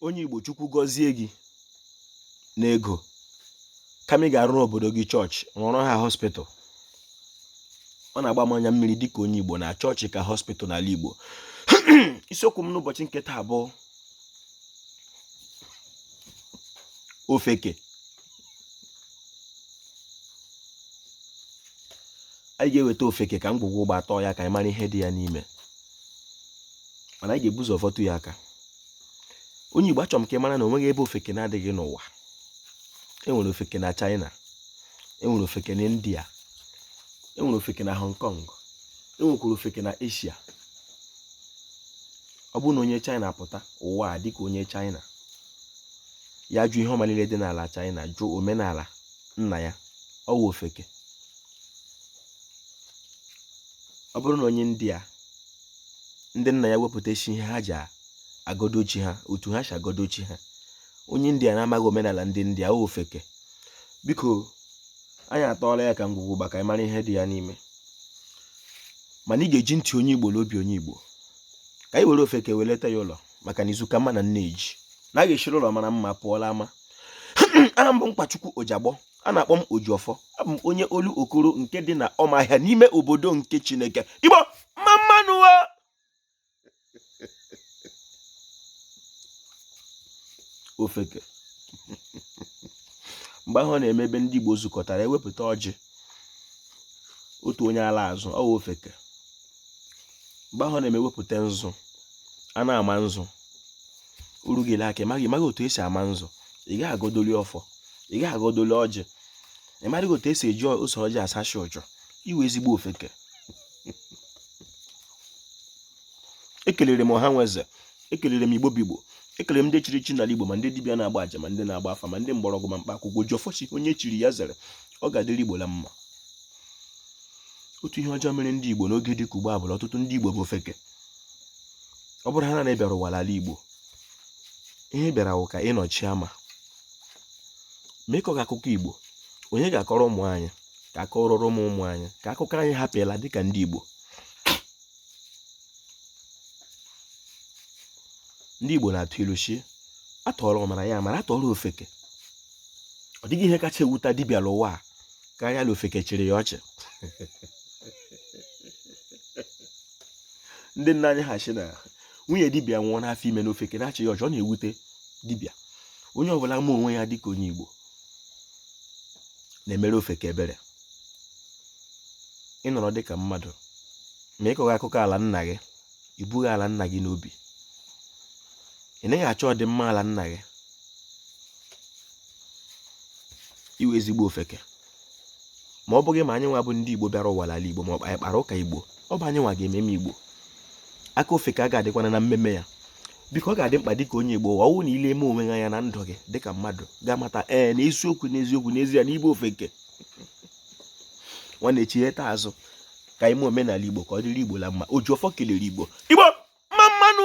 onye Igbo Chukwu gọzie gị n'ego kama ị ga-arụrụ obodo gị chọọchị rụọrọ ha hospital ọ na-agba m anya mmiri dịka onye Igbo na chọọchị ka hospital n'ala Igbo isiokwu m n'ụbọchị nke taa bụ ofeke anyị ga-eweta ofeke ka ngwugwu ụgba tọọ ya ka anyị mara ihe dị ya n'ime mana anyị ga-ebu ụzọ fọtụ ya aka onye Igbo achọrọ m ka ị mara na onweghị ebe ofeke na-adịghị n'ụwa enwere ofeke na China enwere ofeke na India enwere ofeke na Hong Kong enwekwara ofeke na Asia ọ bụrụ na onye China pụta ụwa a dịka onye China ya jụ ihe ọma niile dị n'ala China jụ omenala nna ya ọ wụ ofeke ọ bụrụ na onye India ndị nna ya wepụtasị ihe ha ji agodo chi ha otu ha si agodo chi ha onye india na-amaghị omenala ndị india ọ ofeke biko anyị atọọla ya ka ngwugwu ụgba ka anyị mara ihe dị ya n'ime mana ị ga-eji ntị onye igbo na obi onye igbo ka anyị were ofeke weleta ya ụlọ maka na izu ka mma na nne ji na a ga-esiri ụlọ mara mma pụọ l'ama aha m bụ nkwachukwu ojagbọ a na-akpọ m Ojiọfọ abụ m onye Olokoro nke dị na Ọmahịa n'ime obodo nke Chineke Igbo mma mma nụ ofeke mgbe ahụ ọ na-eme ebe ndị Igbo zukọtara ewepụta ọjị otu onye ala azụ ọ ofeke mgbe ahụ na-eme ewepụta nzu a na-ama nzu o ruo gị aka ị maghị otu esi ama nzu ị gaghị agodoli ọfọ ị gaghị agodoli ọjị ị maghị otu esi eji ose ọjị asachi ụjọ ị wụ ezigbo ofeke ekelere m ọha nwe eze ekelere m igbo bụ igbo ekelere m ndị chiri echi n'ala igbo ma ndị dibịa na-agba aja ma ndị na-agba afa ma ndị mgbọrọgwụ ma mkpa akwụkwọ ojiọfọ si onye chiri ya zere ọ ga-adịrị igbo la mma otu ihe ọjọọ mere ndị Igbo n'oge dị ka ugbu a bụ ọtụtụ ndị Igbo bụ ofeke ọ bụrụ ha na ị bịara ụwa l'ala Igbo ihe ị bịara wụ ka ị nọchie ama mee ka ọ ga akụkọ Igbo onye ga-akọrọ ụmụ anyị ka akọrọrọ ụmụ ụmụ anyị ka akụkọ anyị hapụ ịla dịka ndị Igbo ndị Igbo na-atụ ilu si atụọra ọmara ya mara atụọra ofeke ọ dịghị ihe kacha ewuta dibịa n'ụwa a karịa na ofeke chịrị ya ọchị ndị nna anyị ha sị na nwunye dibịa nwụọ n'afọ ime na ofeke na-achị ya ọchị ọ na-ewute dibịa onye ọbụla ma onwe ya dịka onye Igbo na-emere ofeke ebere ị nọrọ dịka mmadụ ma ị kọghị akụkọ ala nna gị i bughị ala nna gị n'obi ị naghị achọ ọdịmma ala nna gị ị wụ ezigbo ofeke ma ọ bụghị ma anyị nwa bụ ndị igbo bịara ụwa n'ala igbo ma ọ anyị kpara ụka igbo ọ bụ anyị nwa ga-ememe igbo aka ofeke a ga-adịkwana na mmemme ya biko ọ ga-adị mkpa dịka onye igbo ụwa ọ wụ na i leme onwe anya na ndụ gị dịka mmadụ ga-amata ee na eziokwu n'eziokwu n'ezie na ị bụ ofeke nwanne chigheta azụ ka i mee omenala igbo ka ọ dịrị igbo la mma oji ọfọ kelere igbo igbo mma mma nụ